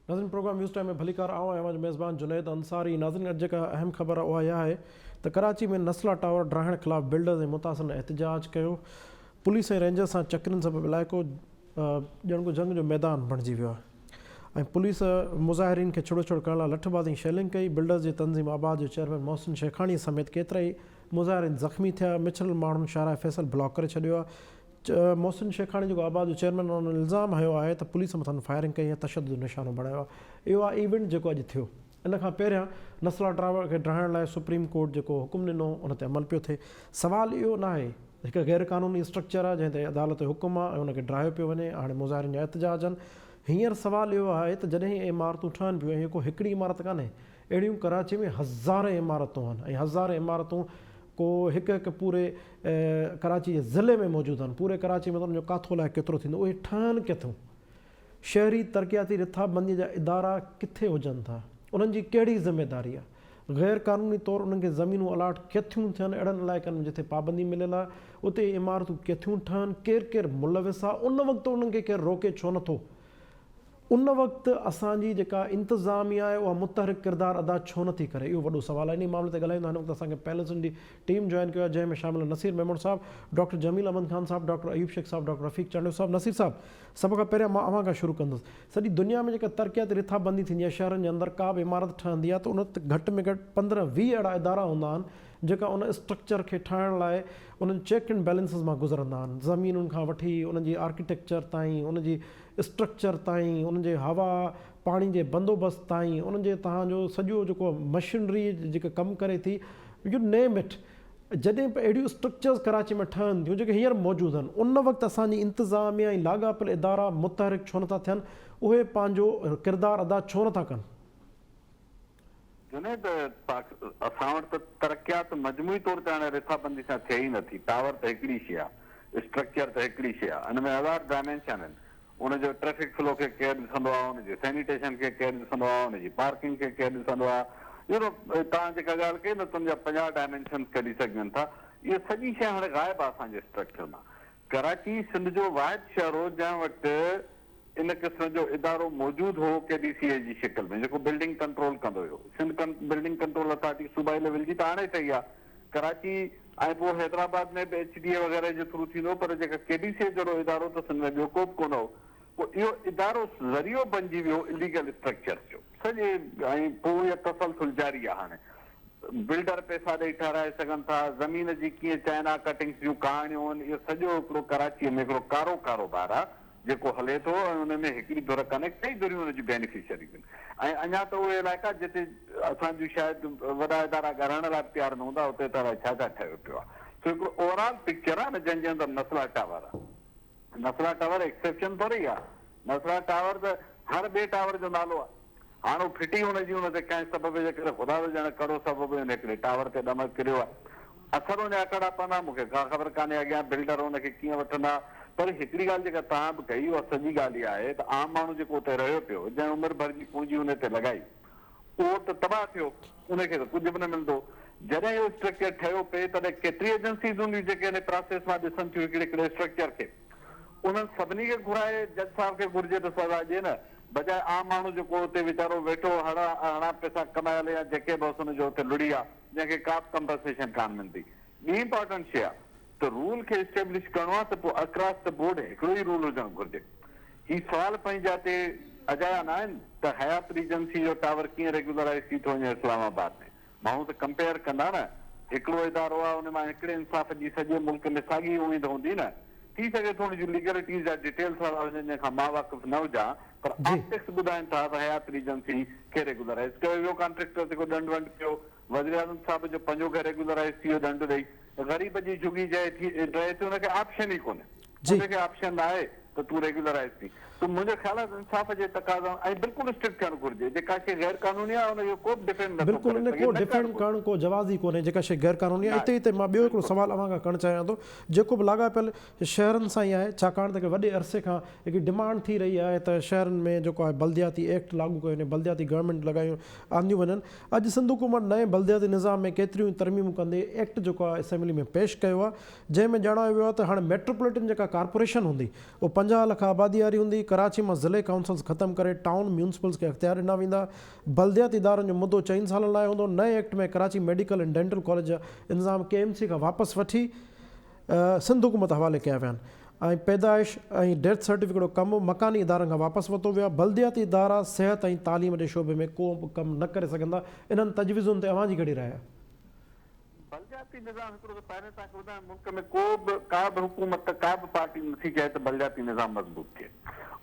ناظرين programme news time ۾ ڀليڪار آئون آهيان اوهان جو ميزبان جنيد انصاري ناظرين اڄ جيڪا اهم خبر آهي اها اها آهي ته ڪراچي ۾ نسلا ٽاور ڊاهڻ خلاف بلڊرز ۽ متاثرن احتجاج ڪيو پوليس ۽ رينجرز سان چڪرين سبب علائقو ڄڻ ڪو جنگ جو ميدان بڻجي ويو آهي ۽ پوليس مظاهرين کي ڇڙو ڇڙ ڪرڻ لاء لٺ بازي ۽ شيلنگ ڪئي بلڊرز جي تنظيم آباد جو چيئرمين محسن شيخاڻي سميت ڪيترائي مظاهرين زخمي ٿيا مڇرل ماڻهن شاهراهه فيصل بلاڪ ڪري ڇڏيو آهي محسن شيخاڻي جيڪو آباد جو چيئرمين آهي ان الزام هنيو آهي ته پوليس مٿن فائرنگ ڪئي ۽ تشدد جو نشانو بڻايو آهي اهو آهي ايونٽ جيڪو اڄ ٿيو ان کان پهريان نسلا ڊرائيور کي ڊاهڻ لاء سپريم ڪورٽ جيڪو حڪم ڏنو ان تي عمل پيو ٿئي سوال اهو ناهي هڪ غير قانوني اسٽرڪچر آهي جنهن تي عدالت جو حڪم آهي ۽ ان کي ڊاهيو پيو وڃي هاڻي مظاهرين جا احتجاج آهن هينئر سوال اهو آهي ته جڏهن هي عمارتون ٺهن پيون ۽ هي ڪو هڪڙي عمارت ڪانهي اهڙيون ڪراچي ۾ هزارين عمارتون آهن ۽ هزارين عمارتون ڪو هڪ هڪ پوري ڪراچي جي ضلعي ۾ موجود آهن. پوري ڪراچي ۾ ته انهن جو ڪاٿو الائي ڪيترو ٿيندو. اهي ٺهن ڪٿون؟ شهري ترقياتي رٿا بنديء جا ادارا ڪٿي هجن ٿا؟ انهن جي ڪهڙي ذميداري آهي؟ غير قانوني طور انهن کي زمينون الاٽ ڪٿيون ٿين؟ اهڙن علائقن ۾ جتي پابندي مليل آهي، اتي اهي عمارتون ڪٿيون ٺهن؟ ڪير ڪير ملوث آهي؟ ان وقت انهن کي ڪير روڪي ڇو نٿو؟ ان وقت اسان جي جيڪا انتظاميا آهي اها متحرڪ ڪردار ادا ڇو نه ٿي ڪري اهو وڏو سوال آهي انهي معاملي تي ڳالهائيندا هن وقت اسان کي پيلسن جي ٽيم جوائن ڪيو آهي جنهن ۾ شامل آهن نصير ميمڻ صاحب ڊاڪٽر جميل احمد خان صاحب ڊاڪٽر ايوب شيخ صاحب ڊاڪٽر رفيق چانڊيو صاحب نصير صاحب سڀ کان پهريان مان اوهان کان شروع ڪندس سڄي دنيا ۾ جيڪا ترقياتي رٿا بندي ٿيندي آهي شهرن جي اندر ڪا به عمارت ٺهندي آهي ته ان وقت گهٽ ۾ گهٽ پندرهن ويهه اهڙا ادارا هوندا آهن جيڪا ان اسٽرڪچر کي ٺاهڻ لاء انهن چيڪ اينڊ بيلنسز مان گذرندا آهن زمينن کان وٺي ان جي آرڪيٽيڪچر تائين ان جي اسٽرڪچر تائين، انهن جي هوا پاڻي جي بندوبست تائين، انهن جي توهان جو سڄو جيڪو مشنري جيڪا ڪم ڪري ٿي يو نيم اٽ، جڏهن به اهڙيون اسٽرڪچرز ڪراچي ۾ ٺهن ٿيون جيڪي هينئر موجود آهن ان وقت اسان جي انتظاميا ۽ لاڳاپيل ادارا متحرڪ ڇو نٿا ٿين، اهي پنهنجو ڪردار ادا ڇو نٿا ڪن؟ جنيد، پاڪ اسان وٽ ته ترقيات مجموعي طور تي هاڻي رٿابندي سان ٿئي ئي نٿي. ٽاور ته هڪڙي شي آ. اسٽرڪچر ته هڪڙي شي آ. ان ۾ هزار ڊائمينشن آهن. ان جو ٽريفڪ فلو کي ڪير ڏسندو آ، ان جي سينيٽيشن کي ڪير ڏسندو آ، ان جي پارڪنگ کي ڪير ڏسندو آ. يو نو، توهان جيڪا ڳالهه ڪئي نھ ته ان جا پنجاهه ڊائمينشنز ڪڍي سگهجن ٿا. اهي سڄي شيء هاڻي غائب آ اسان جي اسٽرڪچر مان. ڪراچي سنڌ جو واحد شهر هو جنهن وٽ ان قسم جو ادارو موجود هو ڪي ڊي سي اي جي شڪل ۾ جيڪو بلڊنگ ڪنٽرول ڪندو هيو سنڌ بلڊنگ ڪنٽرول اٿارٽي صوبائي ليول جي ته هاڻي ٺهي آ ڪراچي ۽ پوء حيدرآباد ۾ به ايڇ ڊي اي وغيره جي ٿرو ٿيندو پر جيڪا ڪي ڊي سي اي جهڙو ادارو ته سنڌ ۾ ٻيو ڪوبه ڪونه هو پوء اهو ادارو ذريعو بنجي ويو اليگل اسٽرڪچرز جو سڄي ۽ پوء اها تسلسل جاري آ هاڻي بلڊر پئسا ڏئي ٺهرائي سگهن ٿا زمين جي ڪيئن چائنا ڪٽنگس جون ڪهاڻيون آهن اهو سڄو هڪڙو ڪراچي ۾ هڪڙو ڪارو ڪاروبار آ جيڪو هلي ٿو ۽ ان ۾ هڪڙي ڌر ڪانهي ڪئي ڌريون ان جون بينيفشريز آهن ۽ اڃا ته اهي علائقا جتي اسان جون شايد وڏا ادارا ڳالهائڻ لاء به تيار نه هوندا اتي ته الائي ڇا ڇا ٺهيو پيو آ سو هڪڙو اوورآل پڪچر آ نه جنهن جي اندر نسل هٽاء وارا نصرا ٽاور ايڪسيپشن ٿورئي آ نصرا ٽاور ته هر ٻي ٽاور جو نالو آ هاڻ هو ڦٽي هن جي هن تي ڪنهن سبب جي ڪري خدا ته ڄاڻي ڪهڙو سبب هن هڪڙي ٽاور تي ڏمڪ ڪريو آ اثر اڃا ڪهڙا پوندا مون کي ڪا خبر ڪانهي اڳيان بلڊر هن کي ڪيئن وٺندا پر هڪڙي ڳالهه جيڪا توهان به ڪئي اها سڄي ڳالهه اها آهي ته عام ماڻهو جيڪو اتي رهيو پيو جنهن عمر ڀر جي پونجي هن تي لڳائي اهو ته تباهه ٿيو، ان کي ته ڪجهه به نه ملندو. جڏهن اهو اسٽرڪچر ٺهيو پئي، تڏهن ڪيتري ايجنسيز هونديون جيڪي ان پراسيس مان ڏسن ٿيون هڪڙي هڪڙي اسٽرڪچر کي. انهن سڀني کي گهرائي جج صاحب کي گهرجي ته سزا ڏين، بجاء عام ماڻهو جيڪو اتي ويچارو ويٺو هڙا هڙان پئسا ڪمايل يا جيڪي به هوس ان جو اتي لڙي آ، جنهن کي ڪا به ڪمپنسيشن ڪانه ملندي. ٻي امپارٽنٽ شيء آ ته رول کي اسٽيبلش ڪرڻو آ ته پوء اڪراس ته بورڊ هڪڙو ئي رول هجڻ گهرجي. هي سوال پنهنجي جاء تي اجايا ناهن ته حيات ريجنسي جو ٽاور ڪيئن ريگيولرائيز ٿي ٿو وڃي اسلام آباد ۾؟ ماڻهو ته ڪمپيئر ڪندا نه. هڪڙو ادارو آهي ان مان هڪڙي انصاف جي سڄي ملڪ ۾ ساڳي اميد هوندي نه. ٿي سگهي ٿو ان جون ليگلٽيز جا ڊيٽيلز اهڙا هجن جنهن کان مان واقف نه هجان پر آپٽڪس ٻڌائين ٿا ته حيات ريجنسي کي ريگيولرائيز ڪيو ويو ڪانٽريڪٽر تي ڪو ڏنڊ ونڊ پيو وزيراعظم صاحب جو پنجو گهر ريگيولرائيز ٿي ويو ڏنڊ ڏئي غريب جي جهڳي جهي ٿي رهي ٿي ان کي آپشن ئي ڪونهي. جي. توکي آپشن ناهي ته تون ريگيولرائيز ٿين ته منهنجي خيال ۾ انصاف جي تقاضائن ۽ بلڪل اسٽرڪٽ ٿيڻ گهرجي جيڪا شيء غير قانوني آهي ان جو ڪوبه ڊفينڊ نه ٿو بلڪل ڪري ان سگهي ڪو نه ڊفينڊ ڪرڻ گهرجي. ڪرڻ ڪو جواز ئي ڪونهي جيڪا شيء غير قانوني آهي اتي ناهي اتي مان ٻيو هڪڙو بلڪل. سوال اوهان کان ڪرڻ چاهيان ٿو جيڪو به لاڳاپيل شهرن سان ئي آهي ڇاڪاڻ ته هڪڙي وڏي عرصي کان هڪڙي ڊمانڊ ٿي رهي آهي ته شهرن ۾ جيڪو آهي بلدياتي ايڪٽ لاڳو ڪيو وڃي بلدياتي گورنمينٽ لڳايون آنديون وڃن اڄ سنڌ حڪومت نئين بلدياتي نظام ۾ ڪيتريون ئي ترميمون ڪندي ايڪٽ جيڪو آهي اسيمبلي ۾ پيش ڪيو آهي جنهن ۾ ڄاڻايو ويو آهي ته هاڻي ميٽروپوليٽن جيڪا ڪارپوريشن هوندي، اها پنجاهه لک آبادي واري هوندي، ڪراچي مان ضلعي ڪائونسلز ختم ڪري ٽائون ميونسپلز کي اختيار ڏنا ويندا، بلدياتي ادارن جو مدو چئن سالن لاء هوندو، نئين act ۾ Karachi medical ۽ dental college جا انتظام ڪي ايم سي کان واپس وٺي سنڌ حڪومت حوالي ڪيا ويا ۽ پيدائش ۽ ڊيٿ سرٽيفڪيٽ جو ڪم به مڪاني ادارن کان واپس ورتو ويو آهي، بلدياتي ادارا صحت ۽ تعليم جي شعبي ۾ ڪو به ڪم نه ڪري سگهندا، انهن تجويزن تي اوهان جي ڪهڙي راء آهي؟ بلدياتي نظام هڪڙو ته پهرين توهان کي ٻڌايم ملڪ ۾ ڪو به ڪا به حڪومت ڪا به پارٽي نٿي چاهي ته بلدياتي نظام مضبوط ٿئي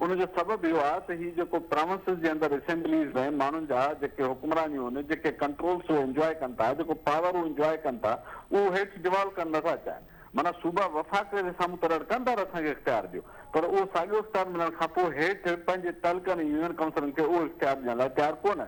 ان جو سبب اهو آهي ته هي جيڪو پراونسز جي اندر اسيمبليز ۾ ماڻهن جا جيڪي حڪمرانيون هن جيڪي ڪنٽرولز هو انجواء ڪن ٿا جيڪو پاور هو انجواء ڪن ٿا اهو هيٺ ڊوالو ڪرڻ نٿا چاهن معنيٰ صوبا وفاق جي سامهون ته رڙڪن ٿا ته اسان کي اختيار ڏيو پر اهو ساڳيو اختيار ملڻ کانپوء هيٺ پنهنجي تعلقن ۽ يونين ڪائونسلن کي اهو اختيار ڏيڻ لاء تيار ڪونه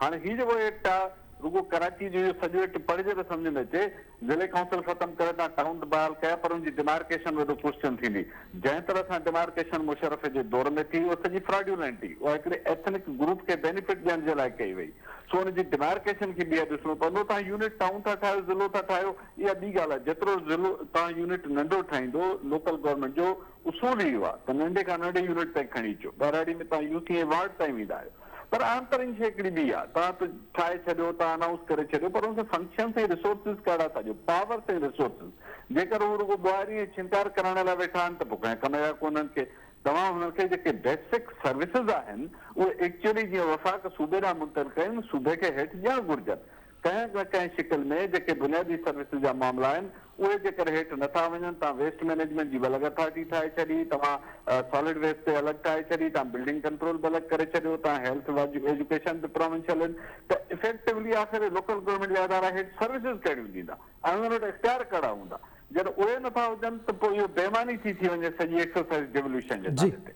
هاڻ هي جيڪو ايڪٽ آ رڳو ڪراچي جو اهو سڄو ايڪٽ پڙهجي ته سمجهه ۾ اچي ضلعي ڪائونسل ختم ڪري تان ٽائون ته بحال ڪيا پر ان جي ڊمارڪيشن وڏو ڪوسچن ٿيندي جنهن طرح سان ڊمارڪيشن مشرف جي دور ۾ ٿي اهو سڄي فراڊيولينٽ هي اها هڪڙي ايٿنڪ گروپ کي بينيفٽ ڏيڻ جي لاء ڪئي وئي سو ان جي ڊمارڪيشن کي ٻيهر ڏسڻو پوندو توهان يونٽ ٽائون ٿا ٺاهيو ضلعو ٿا ٺاهيو اها ٻي ڳالهه آ جيترو ضلعو توهان يونٽ ننڍو ٺاهيندو لوڪل گورنمينٽ جو اصول هي اهو آ ته ننڍي کان ننڍي يونٽ تائين کڻي اچو ٻهراڙي ۾ توهان يو سي ۽ وارڊ تائين ويندا آهيو پر اهم ترين شيء هڪڙي ٻي آ. توهان ته ٺاهي ڇڏيو، توهان انائونس ڪري ڇڏيو پر ان جا فنڪشنس ۽ ريسورسز ڪهڙا ٿا ڏيو؟ پاورس ۽ ريسورسز جيڪر هو رڳو ٻوهاري ۽ ڇنڪار ڪرائڻ لاء ويٺا آهن ته پوء ڪنهن ڪم جا ڪونهن ڪي. توهان هنن کي جيڪي بيسڪ سروسز آهن اهي ايڪچوئلي جيئن وفاق صوبي ڏانهن منتقل ڪيون صوبي کي هيٺ ڏيڻ گهرجن. ڪنهن نه ڪنهن شڪل ۾ جيڪي بنيادي سروسز جا معاملا آهن اهي جيڪر هيٺ نه ٿا وڃن تان ويسٽ مينيجمينٽ جي بلڪ اٿارٽي ٺاهي ڇڏي توهان سالڊ ويسٽ تي الڳ ٺاهي ڇڏي تان بلڊنگ ڪنٽرول به الڳ ڪري ڇڏيو تان هيلٿ ايجوڪيشن به پراونشل آهن ته افيڪٽولي آخر لوڪل گورنمينٽ جا ادارا هيٺ سروسز ڪهڙيون ڏيندا ۽ انهن وٽ اختيار ڪهڙا هوندا جڏهن اهي نه ٿا هجن ته پوء اهو بي معني ٿي ٿي وڃي سڄي ايڪسرسائز ڊيولوشن جي نالي تي.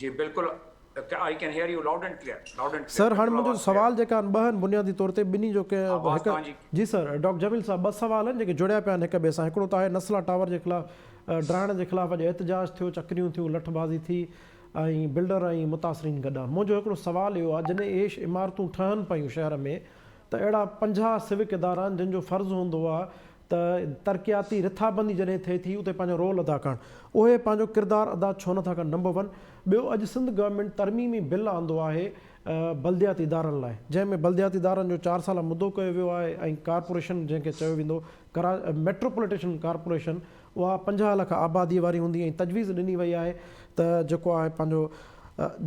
جي بلڪل I can hear you loud and clear loud and clear sir هاڻ منهنجو سوال جيڪا آهن ٻه آهن بنيادي طور تي ٻنهي جو ڪنهن آواز هڪ توهان جي جي سر ڊاڪٽر جميل صاحب ٻه سوال آهن جيڪي جڙيا پيا آهن هڪ ٻئي سان هڪڙو ته آهي نسلا ٽاور جي خلاف ڊاهڻ جي خلاف اڄ احتجاج ٿيو چڪريون ٿيون لٺ بازي ٿي ۽ بلڊر ۽ متاثرين گڏا منهنجو هڪڙو سوال اهو آهي جڏهن اهي عمارتون ٺهن پيون شهر ۾ ته اهڙا پنجاهه سوڪ ادارا آهن جن جو فرض هوندو آهي ته ترقياتي رٿابندي جڏهن ٿئي ٿي اتي پنهنجو رول ادا ڪرڻ اهي پنهنجو ڪردار ادا ڇو نه ٿا ڪن نمبر ون ٻيو اڄ سنڌ گورنمينٽ ترميمي بل آندو آهي بلدياتي ادارن لاء جنهن ۾ بلدياتي ادارن جو چار سالا مدو ڪيو ويو آهي ۽ ڪارپوريشن جنهن کي چيو ويندو ڪرا ميٽروپوليٽيشن ڪارپوريشن اها پنجاهه لک آبادي واري هوندي ۽ تجويز ڏني وئي آهي ته جيڪو آهي پنهنجو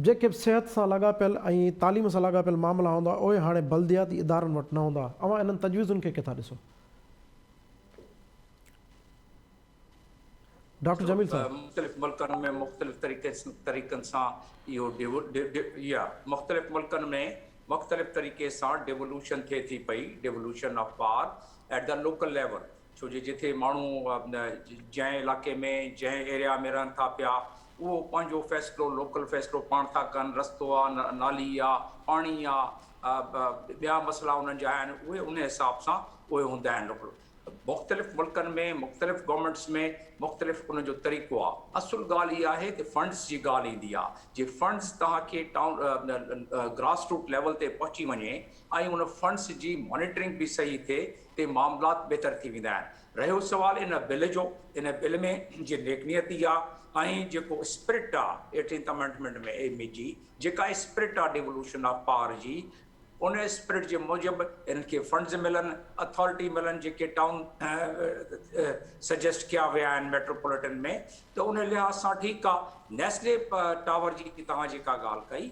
جيڪي به صحت سان لاڳاپيل ۽ تعليم سان لاڳاپيل معاملا هوندا اهي هاڻي بلدياتي ادارن وٽ نه هوندا اوهان انهن تجويزن کي ڪٿان ڏسو ڊاڪٽر جميل صاحب مختلف ملڪن ۾ مختلف طريقن سان اهو يا مختلف ملڪن ۾ مختلف طريقي سان ڊيولوشن ٿئي ٿي پئي devolution of power at the local level ڇو جو جتي ماڻهو جنهن علائقي ۾ جنهن ايريا ۾ رهن ٿا پيا اهو پنهنجو فيصلو لوڪل فيصلو پاڻ ٿا ڪن، رستو آ، نالي آ، پاڻي آ، ٻيا مسئلا انهن جا آهن اهي ان حساب سان اهي هوندا آهن لوڪل مختلف ملڪن ۾ مختلف گورنمينٽس ۾ مختلف ان جو طريقو آ. اصل ڳالهه اها آهي ته فنڊز جي ڳالهه ايندي آ جي فنڊز توهان کي ٽائون گراس روٽ ليول تي پهچي وڃي ۽ ان فنڊز جي مانيٽرنگ به صحيح ٿئي تي معاملات بهتر ٿي ويندا آهن. رهيو سوال ان بل جو، ان بل ۾ جي نيڪ نيتي آ ۽ جيڪو اسپرٽ آ ايٽينٿ امينڊمينٽ ۾ ايم اي جي جيڪا اسپرٽ آ ڊيولوشن آف پاور جي ان اسپرٽ جي موجب انهن کي فنڊز ملن، اٿارٽي ملن جيڪي ٽائون سجيسٽ ڪيا ويا آهن ميٽروپوليٽن ۾ ته ان لحاظ سان ٺيڪ آ. نيسلي ٽاور جي توهان جيڪا ڳالهه ڪئي،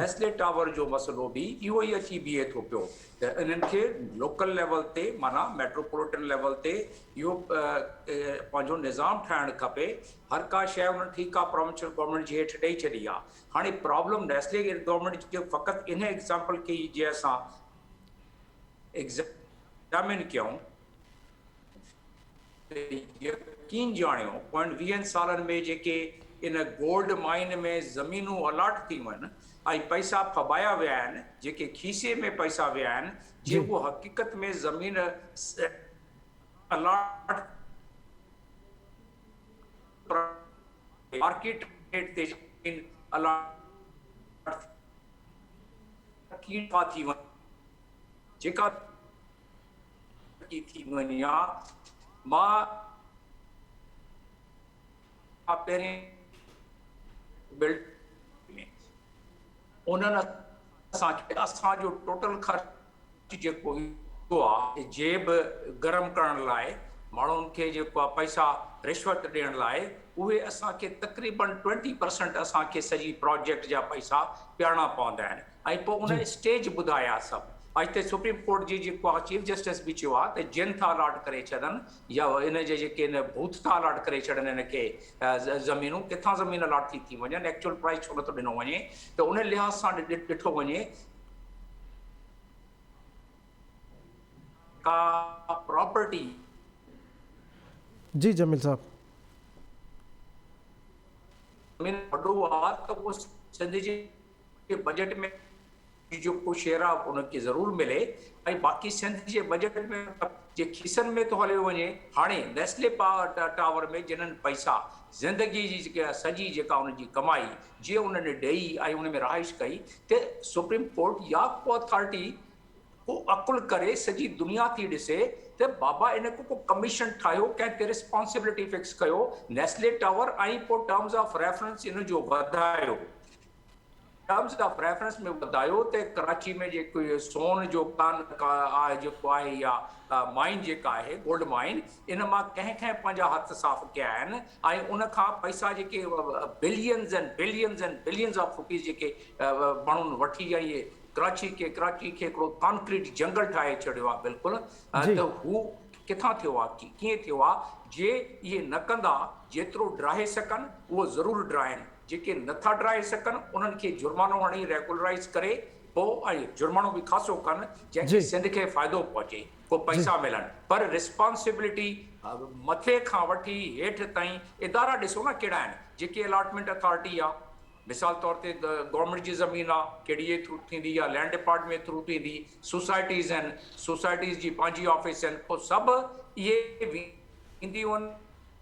نيسلي ٽاور جو مسئلو به اهو ئي اچي بيهي ٿو پيو ته انهن کي لوڪل ليول تي معنيٰ ميٽروپوليٽن ليول تي اهو پنهنجو نظام ٺاهڻ کپي. هر ڪا شيء انهن ٺيڪ آ پروونشل گورنمينٽ جي هيٺ ڏئي ڇڏي آ. هاڻي پرابلم نيسلي گورنمينٽ جي فقط ان ايگزامپل کي ئي جي اسان ايگزامين ڪيون، ته يقين جاڻيو پوين ويهن سالن ۾ جيڪي ان گولڊ مائين ۾ زمينون الاٽ ٿيون آهن ۽ پئسا ڦٻايا ويا آهن، جيڪي کيسي ۾ پئسا ويا آهن، جي اهو حقيقت ۾ زمين الاٽ مارڪيٽ ريٽ تي زمين الاٽ ٿي وڃي جيڪا ڪي ٿي وڃان مان پهرين بلڊ انهن اسان کي اسان جو ٽوٽل خرچ جيڪو جيب گرم ڪرڻ لاء ماڻهن کي جيڪو پئسا رشوت ڏيڻ لاء اهي اسان کي تقريبن ٽوئنٽي پرسنٽ اسان کي سڄي پراجيڪٽ جا پئسا پياڻا پوندا آهن ۽ پوء ان اسٽيج ٻڌايا سڀ اڄ تي سپريم ڪورٽ جي جيڪو آ چيف جسٽس به چيو آ ته جن ٿا الاٽ ڪري ڇڏن يا ان جي جيڪي ان ڀوت ٿا الاٽ ڪري ڇڏن ان کي زمينون ڪٿان زمين الاٽ ٿي ٿي وڃن ايڪچوئل پرائز ڇو نٿو ڏنو وڃي ته ان لحاظ سان ڏٺو وڃي ڪا پراپرٽي جي جميل صاحب زمين وڏو آ ته سنڌ جي کي بجيٽ ۾ جو ڪو شيئر آ انهن کي ضرور ملي ۽ باقي سنڌ جي بجيٽ ۾ جي کيسن ۾ ٿو هليو وڃي هاڻي نيسلي ٽاور ۾ جنن پئسا زندگي جي جيڪي سڄي جيڪا ان جي ڪمائي جي انهن ڏئي ۽ ان ۾ رهائش ڪئي ته سپريم ڪورٽ يا ڪو اٿارٽي ڪو عقل ڪري سڄي دنيا ٿي ڏسي ته بابا ان کي ڪو ڪميشن ٺاهيو ڪنهن تي رسپانسبلٽي فڪس ڪيو نيسلي ٽاور ۽ پوء ٽرمز آف ريفرنس ان جو وڌايو ٽرمز آف ريفرنس ۾ ٻڌايو ته ڪراچي ۾ جيڪو اهو سون جو ڪان آهي جيڪو آهي يا مائين جيڪا آهي گولڊ مائين ان مان ڪنهن ڪنهن پنهنجا هٿ صاف ڪيا آهن ۽ ان کان پئسا جيڪي billions and billions and billions of rupees جيڪي ماڻهن وٺي يا اهي ڪراچي کي ڪراچي کي هڪڙو ڪانڪريٽ جنگل ٺاهي ڇڏيو آهي بلڪل ته هو ڪٿان ٿيو آهي ڪيئن ٿيو آهي جي اهي نه ڪندا جيترو ڊاهي سگهن اهو ضرور ڊاهين جيڪي نه ٿا ڊاهي سگهن انهن کي جرمانو هڻي ريگولرائيز ڪري پو ۽ جرمانو به خاصو ڪن جنهن کي سنڌ کي فائدو پهچي ڪو پئسا ملن پر رسپانسبلٽي مٿي کان وٺي هيٺ تائين ادارا ڏسو نه ڪهڙا آهن جيڪي الاٽمينٽ اٿارٽي آ مثال طور تي گورنمينٽ جي زمين آ ڪهڙي جي ٿرو ٿيندي يا لينڊ ڊپارٽمينٽ ٿرو ٿيندي سوسائٽيز آهن سوسائٽيز جي پنهنجي آفيس آهن پو سڀ اهي وينديون آهن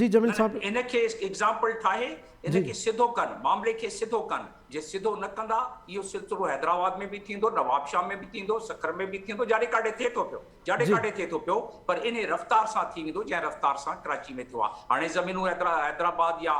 جي جميل صاحب. ان کي ايگزامپل ٺاهي ان کي سڌو ڪن معاملي کي سڌو ڪن جي سڌو نه ڪندا اهو سلسلو حيدرآباد ۾ به ٿيندو نوابشاهه ۾ به ٿيندو سکر ۾ به ٿيندو جاڏي ڪاڏي ٿئي ٿو پيو جاڏي ڪاڏي ٿئي ٿو پيو پر انهي رفتار سان ٿي ويندو جنهن رفتار سان ڪراچي ۾ ٿيو آهي هاڻي زمينون حيدرآباد يا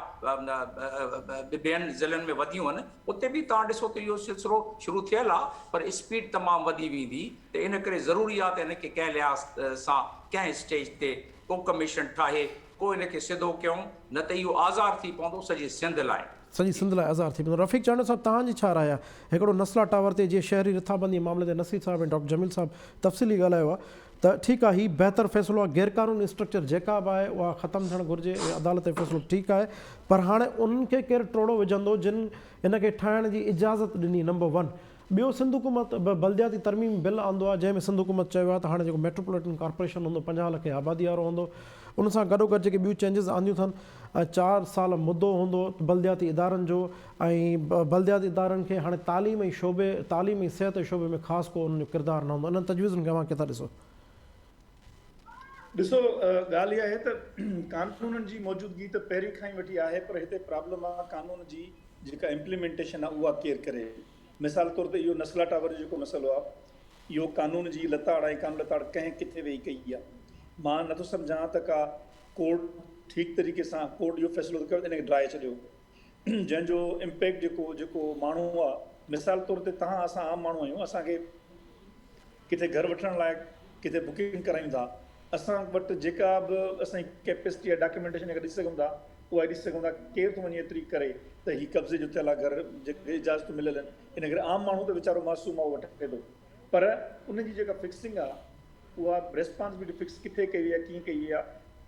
ٻين ضلعن ۾ وڌيون آهن اتي به توهان ڏسو ته اهو سلسلو شروع ٿيل آهي پر اسپيڊ تمام وڌي ويندي ته ان ڪري ضروري آهي ته هن کي ڪنهن لحاظ سان ڪنهن اسٽيج تي ڪو ڪميشن ٺاهي ڪو هن کي سڌو ڪيون نه ته اهو آزار ٿي پوندو سڄي سنڌ لاء. سڄي سنڌ لاء آزار ٿي پوندو. رفيق چانڊيو صاحب تهان جي ڇا راء آهي هڪڙو نسلا ٽاور تي جي شهري رٿابندي معاملي تي نصير صاحب ۽ ڊاڪٽر جميل صاحب تفصيلي ڳالهايو آهي ته ٺيڪ آهي هي بهتر فيصلو آهي غيرقانوني اسٽرڪچر جيڪا به آهي اها ختم ٿيڻ گهرجي ۽ عدالت جو فيصلو ٺيڪ آهي پر هاڻي انهن کي ڪير ٽوڙو وجهندو جن ان کي ٺاهڻ جي اجازت ڏني نمبر ون ٻيو سنڌ حڪومت به بلدياتي ترميم بل آندو آهي جنهن ۾ سنڌ حڪومت چيو آهي ته هاڻي جيڪو ميٽروپوليٽن ڪارپوريشن هوندو پنجاهه لکين آبادي وارو هوندو ان سان گڏوگڏ جيڪي ٻيون چينجز آنديون اٿن ۽ چار سال مدو هوندو بلدياتي ادارن جو ۽ بلدياتي ادارن کي هاڻي تعليم ۽ شعبي تعليم ۽ صحت جي شعبي ۾ خاص ڪو انهن جو ڪردار نه هوندو انهن تجويزن کي اوهان ڪيئن ٿا ڏسو؟ ڏسو ڳالهه اها آهي ته قانونن جي موجودگي ته پهرين کان ئي وٺي آهي پر هتي پرابلم آهي قانون جي جيڪا امپليمينٽيشن آهي اها ڪير ڪري مثال طور تي اهو نسلا ٽاور جو جيڪو مسئلو آهي اهو قانون جي لتاڙ ۽ ڪام لتاڙ ڪنهن ڪٿي ويهي ڪئي آهي مان نٿو سمجهان ته ڪا ڪورٽ ٺيڪ طريقي سان ڪورٽ اهو فيصلو ته ڪيو ته ان کي ڊاهي ڇڏيو جنهن جو امپيڪٽ جيڪو جيڪو ماڻهو آ مثال طور تي تهان اسان عام ماڻهو آهيون اسان کي ڪٿي گهر وٺڻ لاء ڪٿي بڪنگ ڪرايون ٿا اسان وٽ جيڪا به اسان جي ڪيپيسٽي يا ڊاڪيومينٽيشن جيڪا ڏسي سگهون ٿا اها ڏسي سگهون ٿا ڪير ٿو وڃي ايتري ڪري ته هي قبضي جو ٿيل آ گهر جيڪي اجازتون مليل آهن ان ڪري عام ماڻهو ته ويچارو معصوم آ اهو وٺي ٿو پر ان جي جيڪا فڪسنگ آ اها ريسپانسبلٽي فڪس ڪٿي ڪئي وئي آ ڪيئن ڪئي وئي آ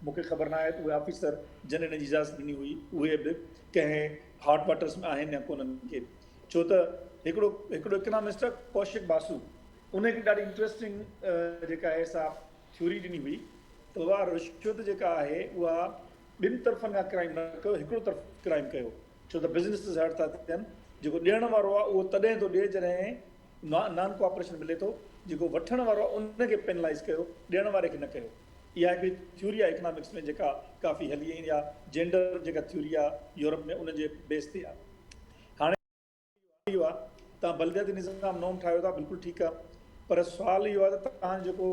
مون کي خبر ناهي ته اهي آفيسر جن ان جي اجازت ڏني هئي اهي به ڪنهن هاٽ واٽرس ۾ آهن يا ڪونهن مون کي ڇو ته هڪڙو هڪڙو اڪنامسٽ آ ڪوشڪ باسو ان هڪڙي ڏاڍي انٽرسٽنگ جيڪا آهي سا ٿيوري ڏني هئي ته بابا رشوت جيڪا آهي اها ٻن طرفن کان ڪرائم نه ڪيو هڪڙو طرف ڪرائم ڪيو ڇو ته بزنس هرٽ ٿا ٿين جيڪو ڏيڻ وارو آهي اهو تڏهن ٿو ڏئي جڏهن نان ڪوآپريشن ملي ٿو جيڪو وٺڻ وارو ان کي پينلائيز ڪيو ڏيڻ واري کي نه ڪيو اها هڪڙي ٿيوري آهي اڪنامڪس ۾ جيڪا ڪافي هلي ۽ يا جينڊر جيڪا ٿيوري آهي يورپ ۾ ان جي بيس تي آهي هاڻي سوال اهو آهي توهان بلدياتي نظام نوم ٺاهيو ٿا بلڪل ٺيڪ آهي پر سوال اهو آهي ته توهان جيڪو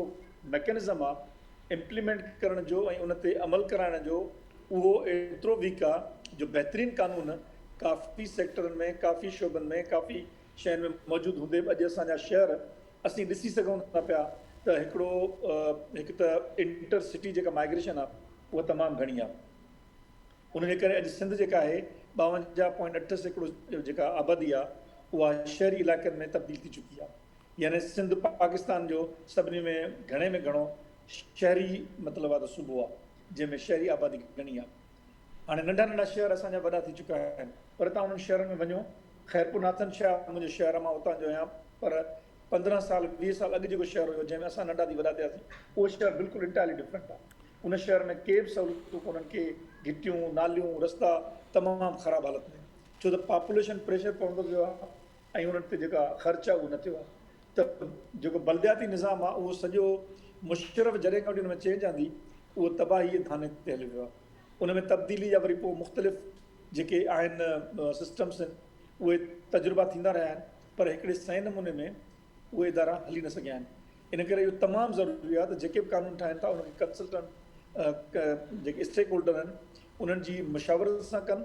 ميڪنزم آهي امپليمينٽ ڪرڻ جو ۽ ان تي عمل ڪرائڻ جو اهو ايترو ويڪ آهي جو بهترين قانون ڪافي سيڪٽرن ۾ ڪافي شعبن ۾ ڪافي شهر ۾ موجود هوندي به اڄ اسان جا شهر اسين ڏسي سگهون ٿا پيا ته هڪڙو هڪ ته انٽر سٽي جيڪا مائگريشن آهي اها تمام گهڻي آهي ان جي ڪري اڄ سنڌ جيڪا آهي ٻاونجاهه پوائنٽ اٺ سيڪڙو جيڪا آبادي آهي اها شهري علائقن ۾ تبديل ٿي چڪي آهي يعني سنڌ پاڪستان جو سڀني ۾ گهڻي ۾ گهڻو شهري مطلب آهي ته صوبو آهي جنهن ۾ شهري آبادي گهڻي آهي هاڻي ننڍا ننڍا شهر اسان جا وڏا ٿي چڪا آهن پر توهان انهن شهرن ۾ وڃو خيرپور ناٿن شاهه منهنجو شهر آهي مان اتان جو آهيان پر پندرهن سال ويهه سال اڳ جيڪو شهر هيو جنهن ۾ اسان ننڍا ٿي وڏا ٿياسين اهو شهر بلڪل انٽائرلي ڊفرنٽ آهي ان شهر ۾ ڪي به سهولتون ڪونهن ڪي گهٽيون ناليون رستا تمام خراب حالت ۾ آهن ڇو ته پاپوليشن پريشر پوندو ويو آهي ۽ انهن تي جيڪا خرچ آهي اهو نه ٿيو آهي ته جيڪو بلدياتي نظام آهي اهو سڄو مشرف جڏهن کان وٺي ان ۾ چينج آندي اهو تباهي جي ڌاني تي هليو ويو آهي ان ۾ تبديلي جا وري پوء مختلف جيڪي آهن سسٽمس آهن اهي تجربا ٿيندا رهيا آهن پر هڪڙي صحيح نموني ۾ اهي ادارا هلي نه سگهيا آهن ان ڪري اهو تمام ضروري آهي ته جيڪي به قانون ٺاهين ٿا ان کي ڪنسلٽنٽ جيڪي اسٽيڪ هولڊر آهن انهن جي مشاورت سان ڪن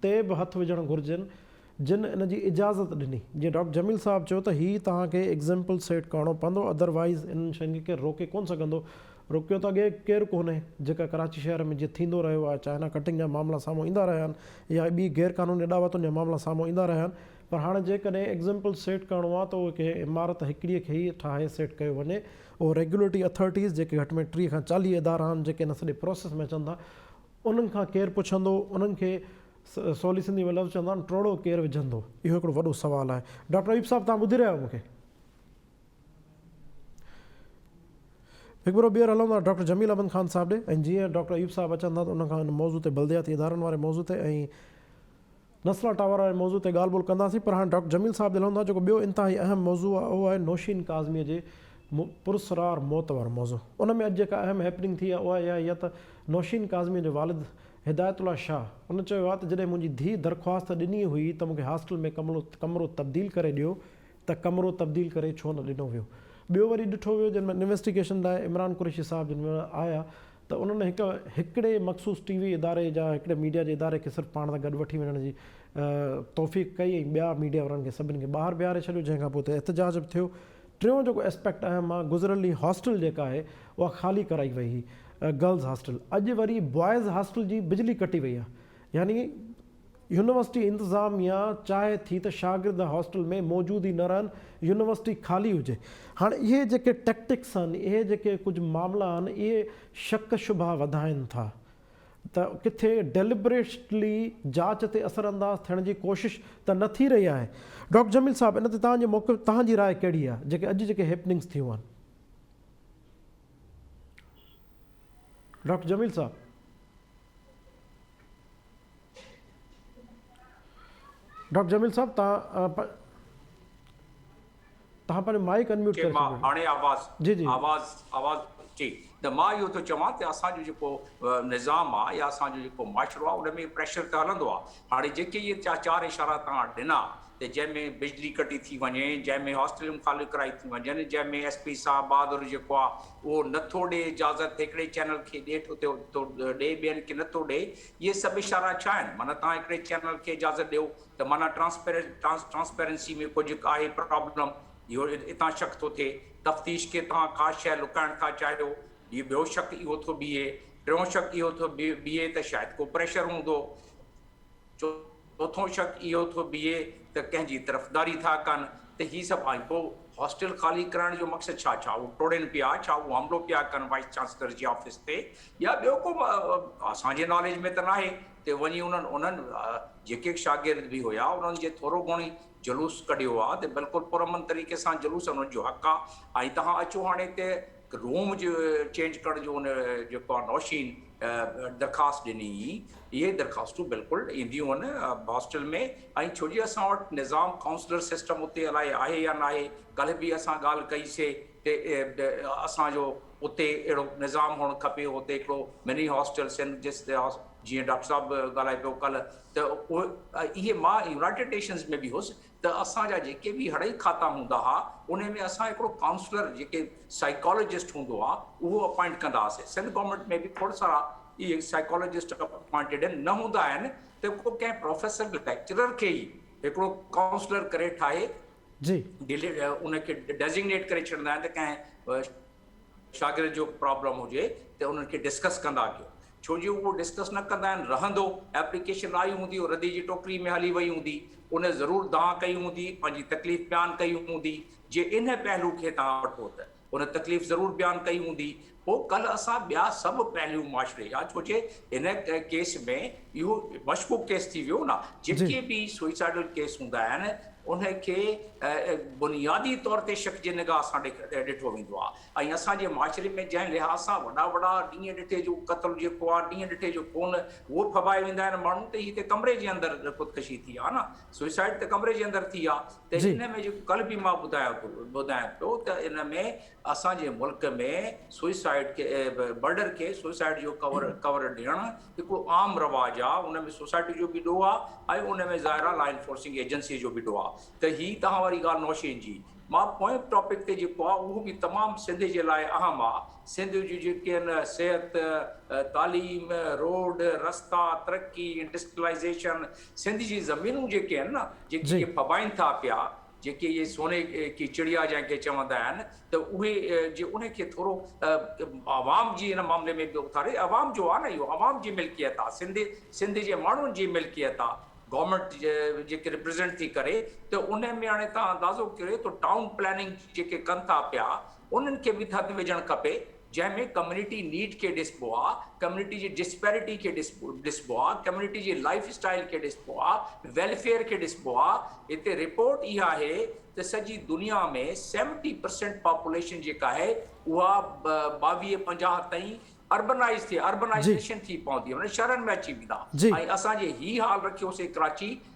تي به هٿ وجهڻ گهرجن جن ان جي اجازت ڏني. جيئن ڊاڪٽر جميل صاحب چيو ته هي توهان کي ايگزيمپل سيٽ ڪرڻو پوندو اڌر وائيز انهن شين کي ڪير روڪي ڪونه سگهندو. روڪيو ته اڳي ڪير ڪونهي. جيڪا ڪراچي شهر ۾ جيئن ٿيندو رهيو آهي چائنا ڪٽنگ جا معاملا سامهون ايندا رهيا آهن يا ٻي غير قانوني اڏاوتن جا معاملا سامهون ايندا رهيا آهن پر هاڻي جيڪڏهن ايگزيمپل سيٽ ڪرڻو آهي ته اهو ڪنهن عمارت هڪڙي کي ئي ٺاهي سيٽ ڪيو وڃي اهو ريگيوليٽري اٿارٽيز جيڪي گهٽ ۾ ٽيهه کان چاليهه ادارا آهن جيڪي ان سڄي پروسيس ۾ اچن ٿا انهن کان ڪير پڇندو؟ انهن کي سولي سنڌي ۾ لفظ چوندا آهن ٽوڙو ڪير وجهندو؟ اهو هڪڙو وڏو سوال آهي. ڊاڪٽر ايوب صاحب توهان ٻڌي رهيا آهيو مون کي؟ هڪ ڀيرو ٻيهر هلون ٿا ڊاڪٽر جميل احمد خان صاحب ڏي ۽ جيئن ڊاڪٽر ايوب صاحب اچن ٿا ته انهن کان ان موضوع تي بلدياتي ادارن واري موضوع تي ۽ نسلا ٽاور واري موضوع تي ڳالهه ٻولهه ڪنداسين پر هاڻ ڊاڪٽر جميل صاحب جي لهون ٿا جيڪو ٻيو انتهائي اهم موضوع آهي اهو آهي نوشين ڪاظميء جي پرسرار موت وارو موضوع ان ۾ اڄ جيڪا اهم هيپننگ ٿي آهي اها اهائي آهي ته نوشين ڪاظميء جو والد هدايت الله شاهه ان چيو آهي ته جڏهن منهنجي ڌيء درخواست ڏني هئي ته مونکي هاسٽل ۾ ڪمرو تبديل ڪري ڏيو ته ڪمرو تبديل ڪري ڇو نه ڏنو ويو ٻيو وري ڏٺو ويو جن ۾ انويسٽيگيشن لاء عمران قريشي صاحب جن آيا ته انهن هڪ هڪڙي مخصوص ٽي وي اداري جا هڪڙي ميڊيا جي اداري کي صرف پاڻ سان گڏ وٺي وڃڻ جي توفيق ڪئي ۽ ٻيا ميڊيا وارن کي سڀني کي ٻاهر بيهاري ڇڏيو جنهن کان پوء اتي احتجاج به ٿيو ٽيون جيڪو اسپيڪٽ اهم آ گذريل ڏينهن هاسٽل جيڪا آهي اها خالي ڪرائي وئي هئي گرلز هاسٽل اڄ وري بوائز هاسٽل جي بجلي ڪٽي وئي آ يعني يونيورسٽي انتظاميا چاهي ٿي ته شاگرد هاسٽل ۾ موجود ئي نه رهن، يونيورسٽي خالي هجي. هاڻ اهي جيڪي ٽيڪٽڪس آهن، اهي جيڪي ڪجهه معاملا آهن، اهي شڪ شبها وڌائين ٿا ته ڪٿي Deliberately جاچ تي اثر انداز ٿيڻ جي ڪوشش ته نه ٿي رهي آهي. ڊاڪٽر جميل صاحب ان تي توهان جي موقف، توهان جي راء ڪهڙي آهي، جيڪي اڄ جيڪي هيپننگس ٿيون آهن. ڊاڪٽر جميل صاحب. ڊاڪٽر جميل صاحب توهان پنهنجو مائيڪ ان ميوٽ ڪري ڇڏيو. جي هاڻي آواز آواز آواز جي ته مان اهو ٿو چوان ته اسان جو جيڪو نظام آهي يا اسان جو جيڪو معاشرو آهي ان ۾ پريشر ته هلندو آهي هاڻي جيڪي اهي چار اشارا توهان ڏنا ته جنهن ۾ بجلي ڪٽي ٿي وڃي، جنهن ۾ هاسٽليون خالي ڪرائي ٿيون وڃن، جنهن ۾ ايس پي صاحب بهادر جيڪو آ اهو نه ٿو ڏي اجازت هڪڙي چينل کي ڏي ٿو ٿو ڏي ٻين کي نه ٿو ڏي اهي سڀ اشارا ڇا آهن معنيٰ تهان هڪڙي چينل کي اجازت ڏيو ته معنيٰ ٽرانسپيرنٽ ٽرانسپيرنسي ۾ ڪجهه آهي پرابلم اهو اتان شڪ ٿو ٿئي تفتيش کي تهان ڪا شيء لڪائڻ ٿا چاهيو هي ٻيو شڪ اهو ٿو بيهي ٽيون شڪ اهو ٿو بيهي ته شايد ڪو پريشر هوندو. چوٿون شڪ اهو ٿو بيهي ته ڪنهن جي طرفداري ٿا ڪن ته هي سڀ ۽ پوء هاسٽل خالي ڪرائڻ جو مقصد ڇا؟ ڇا هو ٽوڙين پيا؟ ڇا هو حملو پيا ڪن وائيس چانسلر جي آفيس تي يا ٻيو ڪو اسان جي ناليج ۾ ته ناهي ته وڃي انهن انهن جيڪي شاگرد به هيا انهن جي ٿورو گهڻي جلوس ڪڍيو آ ته بلڪل پرامن طريقي سان جلوس انهن جو حق آ ۽ تهان اچو هاڻي ته روم جو چينج ڪرڻ جو ان جيڪو آهي نوشين درخواست ڏني هئي اهي درخواستون بلڪل اينديون هن هاسٽل ۾ ۽ ڇو جي اسان وٽ نظام ڪائونسلر سسٽم اتي الائي آهي يا ناهي ڪلهه به اسان ڳالهه ڪئي سي ته اسان جو اتي اهڙو نظام هئڻ کپي اتي هڪڙو مني هاسٽل سنڌ جس جيئن ڊاڪٽر صاحب ڳالهائي پيو ڪلهه ته اهي مان يونائيٽيڊ نيشنز ۾ به هيس ته اسان جا جيڪي به هڙئي کاتا هوندا ها انهي ۾ اسان هڪڙو ڪائونسلر جيڪي سائيڪالوجسٽ هوندو ها اهو اپائنٽ ڪندا هئاسين سنڌ گورنمينٽ ۾ به کوڙ سارا اهي سائيڪالوجسٽ اپائنٽيڊ آهن نه هوندا آهن ته ڪو ڪنهن پروفيسر ليڪچرر کي ئي هڪڙو ڪائونسلر ڪري ٺاهي جي ان کي ڊيزگنيٽ ڪري ڇڏندا آهن ته ڪنهن شاگرد جو پرابلم هجي ته انهن کي ڊسڪس ڪندا ڪيو ڇو جي اهو ڊسڪس نه ڪندا آهن رهندو ايپليڪيشن آئي هوندي او ردي جي ٽوڪري ۾ هلي وئي هوندي انهن ضرور دانهن ڪئي هوندي پنهنجي تڪليف بيان ڪئي هوندي جي انهن پهلو کي توهان وٺو ته انهن تڪليف ضرور بيان ڪئي هوندي پو ڪل اسان ٻيا سڀ پهلو معاشري جا ڇو جي هن ڪيس ۾ اهو مشڪوڪ ڪيس ٿي ويو نه جيڪي به سوئيسائيڊل ڪيس هوندا آهن ان کي بنيادي طور تي شڪ جي نگاهه سان ڏٺو ويندو آهي ۽ اسان جي معاشري ۾ جنهن لحاظ سان وڏا وڏا ڏينهن ڏٺي جو قتل جيڪو آهي ڏينهن ڏٺي جو خون اهو ڦٻائي ويندا آهن ماڻهو ته هتي ڪمري جي اندر خودڪشي ٿي آهي نه سوئيسائيڊ ته ڪمري جي اندر ٿي آهي ته ان ۾ جيڪو ڪل به مان ٻڌايان ٿو ٻڌايان پيو ته ان ۾ اسان جي ملڪ ۾ سوئسائيڊ کي مرڊر کي سوئسائيڊ جو ڪور ڏيڻ هڪڙو عام رواج آ ان ۾ سوسائٽي جو به ڏوهه آ ۽ ان ۾ ظاهر آ لا انفورسنگ ايجنسي جو به ڏوهه آ ته هي توهان واري ڳالهه نوشين جي مان پوئين ٽاپڪ تي جيڪو آ اهو به تمام سنڌ جي لاء اهم آ سنڌ جون جيڪي آهن صحت تعليم روڊ رستا ترقي انڊسٽرلائيزيشن سنڌ جي زمينون جيڪي آهن نه جيڪي جي ڦٻائين ٿا پيا جيڪي اهي سوني ڪي چڙيا جنهن کي چوندا آهن ته اهي جي انهي کي ٿورو عوام جي ان معاملي ۾ به اٿاري عوام جو آ نه اهو عوام جي ملڪيت آ سنڌ سنڌ جي ماڻهن جي ملڪيت آ گورمينٽ جيڪي ريپريزينٽ ٿي ڪري ته ان ۾ هاڻي تان اندازو ڪريو ته ٽائون پلاننگ جيڪي ڪن ٿا پيا انهن کي به ٿڌ وجهڻ کپي جنهن ۾ ڪميونٽي نيڊ کي ڏسبو آ، ڪميونٽي جي ڊسپيرٽي کي ڏسبو آ، ڪميونٽي جي لائيف اسٽائيل کي ڏسبو آ، ويلفيئر کي ڏسبو آ. هتي رپورٽ اها آهي ته سڄي دنيا ۾ سيونٽي پرسينٽ پاپوليشن جيڪا آهي اها ٻاويهه پنجاهه تائين اربنائيز ٿي، Urbanization، ٿي پوندي معنيٰ شهرن ۾ اچي ويندا ۽ اسان جي هي حال رکيوسي ڪراچي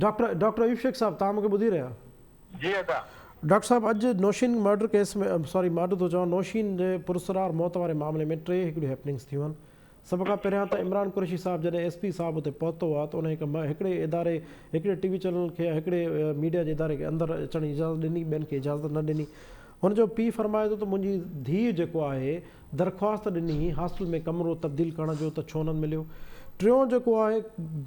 ڊاڪٽر ڊاڪٽر ايوب شيخ صاحب توهان مونکي ٻڌي رهيا. جي ادا. ڊاڪٽر صاحب اڄ نوشين مرڊر ڪيس ۾ ساري مارڊر ٿو چوان نوشين جي پراسرار موت واري معاملي ۾ ٽي هڪڙيون هيپننگس ٿيون آهن سڀ کان پهريان ته عمران قريشي صاحب جڏهن ايس پي صاحب اتي پهتو هو ته انهن هڪ هڪڙي اداري هڪڙي ٽي وي چينل کي يا هڪڙي ميڊيا جي اداري کي اندر اچڻ جي اجازت ڏني ٻين کي اجازت نه ڏني هن جو پي فرمائي ٿو ته منهنجي ڌيء جيڪو آهي درخواست ڏني هئي هاسٽل ۾ ڪمرو تبديل ڪرڻ جو ته ڇو نه مليو ٽيون جيڪو آهي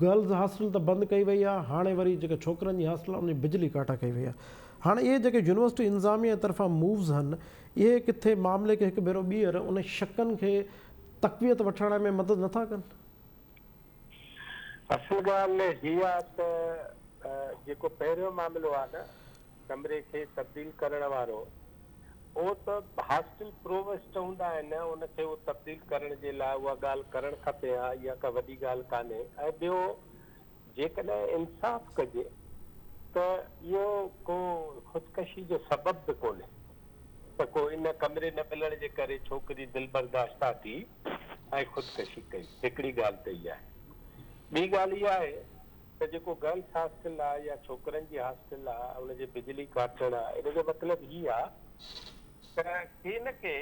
گرلز هاسٽل ته بند ڪئي وئي آهي هاڻي وري جيڪا ڇوڪرن جي هاسٽل آهي ان جي بجلي ڪاٽا ڪئي وئي آهي هاڻي اهي جيڪي يونيورسٽي انظاميه طرفان مووز هن اهي ڪٿي معاملي کي هڪ ڀيرو ٻيهر انهن شڪن کي تقويت وٺرائڻ ۾ مدد نه ٿا ڪن. اصل ڳالهه هيء آهي ته جيڪو پهريون معاملو آهي نه ڪمري کي تبديل ڪرڻ وارو اهو ته هاسٽل پرووسٽ هوندا آهن، ان کي اهو تبديل ڪرڻ جي لاء اها ڳالهه ڪرڻ کپي ها، اها ڪا وڏي ڳالهه ڪانهي ۽ ٻيو جيڪڏهن انصاف ڪجي ته اهو ڪو خودڪشي جو سبب به ڪونهي ته ڪو ان ڪمري نه ملڻ جي ڪري ڇوڪري دلبرداشته ٿي ۽ خودڪشي ڪئي، هڪڙي ڳالهه ته اها آهي، ٻي ڳالهه اها آهي. ته جيڪو گرلس هاسٽل آ يا ڇوڪرن جي هاسٽل آ ان جي بجلي ڪاٽڻ آ ان جو مطلب هي آ ته ڪي نه ڪي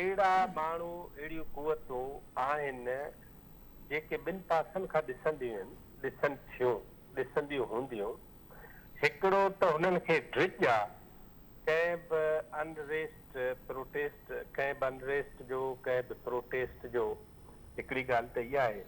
اهڙا ماڻهو اهڙيون قوتون آهن جيڪي ٻن پاسن کان ڏسنديون آهن ڏسن ٿيون ڏسنديون هونديون هڪڙو ته هنن کي ڊڄ آ ڪنهن به ان ريسٽ پروٽيسٽ ڪنهن به ان ريسٽ جو ڪنهن به پروٽيسٽ جو هڪڙي ڳالهه ته اها آهي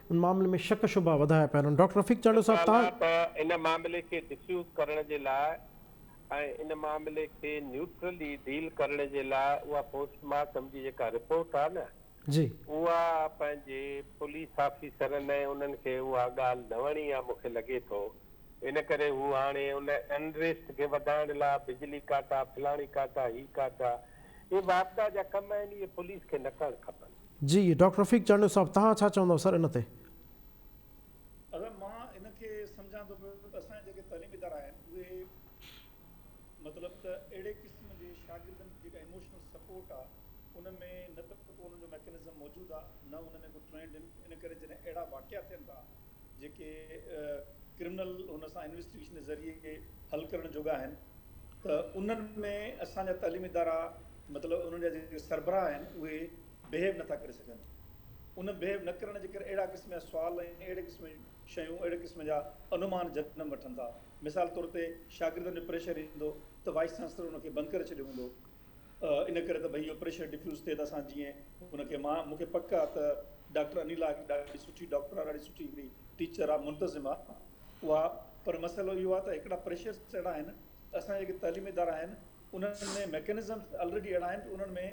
ان معاملي ۾ شڪ شبها وڌايا پيا وڃن ڊاڪٽر رفيق چانڊيو صاحب تان ته ان معاملي کي ڊفيوز ڪرڻ جي لاء ۽ ان معاملي کي نيوٽرلي ڊيل ڪرڻ جي لاء اها پوسٽ مارٽم جي جيڪا رپورٽ آهي نه جي اها پنهنجي پوليس آفيسرن ۽ انهن کي اها ڳالهه نه وڻي آهي مون کي لڳي ٿو ان ڪري هو هاڻي ان انريسٽ کي وڌائڻ لاء بجلي ڪاٽا فلاڻي ڪاٽا هي ڪاٽا اهي واپڊا جا ڪم آهن اهي پوليس کي نه ڪرڻ کپن. جي ڊاڪٽر رفيق چانڊيو صاحب توهان ڇا چوندؤ سر ان تي. اصل مان ان کي سمجهان ٿو پيو ته اسان جا جيڪي تعليمي ادارا آهن اهي مطلب ته اهڙي قسم جي شاگردن جي جيڪا ايموشنل سپورٽ آ ان ۾ نه ته ڪو انهن جو ميڪنزم موجود آ نه ان ۾ ڪو ٽرينڊ ان ڪري جڏهن اهڙا واقعا ٿين ٿا جيڪي ڪرمنل هن سان انويسٽيگيشن ذريعي حل ڪرڻ جوڳا آهن ته انهن ۾ اسان جا تعليمي ادارا مطلب انهن جا جيڪي سربراهه آهن اهي بهيو نٿا ڪري سگهن ان بهيو نه ڪرڻ جي ڪري اهڙا قسم جا سوال ۽ اهڙي قسم جون شيون اهڙي قسم جا انومان جنم وٺن ٿا مثال طور تي شاگردن جو پريشر ايندو ته وائيس چانسلر ان کي بند ڪري ڇڏيو هوندو ان ڪري ته ڀئي اهو پريشر ڊفيوز ٿئي ته اسان جيئن ان کي مان مون کي پڪ آ ته ڊاڪٽر انيلا هڪ ڏاڍي سٺي ڊاڪٽر آ ڏاڍي سٺي هڪڙي ٽيچر آ منتظم آ اها پر مسئلو اهو آ ته هڪڙا پريشرس اهڙا آهن اسان جا جيڪي تعليمي ادارا آهن انهن ۾ ميڪنزمس الريڊي اهڙا آهن ته انهن ۾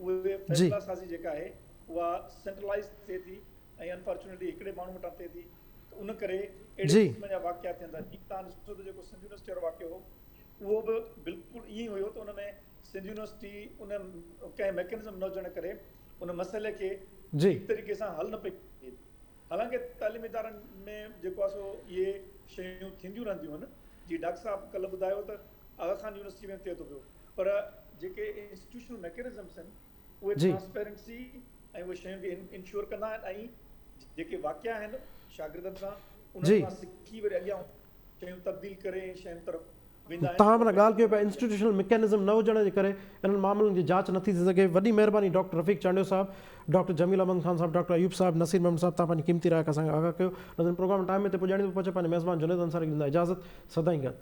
اهي فيصلا سازي جيڪا آهي اها سينٽرلائز ٿئي ٿي ۽ انفارچونيٽلي هڪڙي ماڻهو وٽان ٿئي ٿي ته ان ڪري اهڙي قسم جا واقعا ٿين ٿا جيئن تهان ڏسو ته جيڪو سنڌ يونيورسٽي وارو واقعو هو اهو به بلڪل ائين ئي هيو ته ان ۾ سنڌ يونيورسٽي ان ڪنهن ميڪنزم نه هجڻ ڪري ان مسئلي کي ٺيڪ طريقي سان حل نه پئي ڪري سگهي. حالانڪه تعليمي ادارن ۾ جيڪو آهي سو اهي شيون ٿينديون رهنديون آهن. جيئن ڊاڪٽر صاحب ڪلهه ٻڌايو ته آغا خان يونيورسٽي ۾ ٿئي ٿو پيو پر جيڪي انسٽيٽيوشنل ميڪنزمز آهن اهي ٽرانسپيرنسي ۽ اهي شيون کي انشور ڪندا آهن ۽ جيڪي واقعا آهن شاگردن سان انهن کان سکي وري اڳيان شيون تبديل ڪري ۽ شين طرف ويندا آهن. تاهم ان ڳالهه کي به انسٽيٽيوشنل ميڪانزم نه هجڻ جي ڪري انهن معاملن جي جاچ نه ٿي ٿي سگهي. وڏي مهرباني ڊاڪٽر رفيق چانڊيو صاحب، ڊاڪٽر جميل احمد خان صاحب، ڊاڪٽر ايوب صاحب، نصير محمد صاحب تان پنهنجي قيمتي راء کي اسان کي آگاهه ڪيو. ناظرين پروگرام ٽائيم تي پڄاڻيندو پهچي پنهنجي ميزبان جنيد انصاري کي ڏيندا اجازت. سدائين گڏ.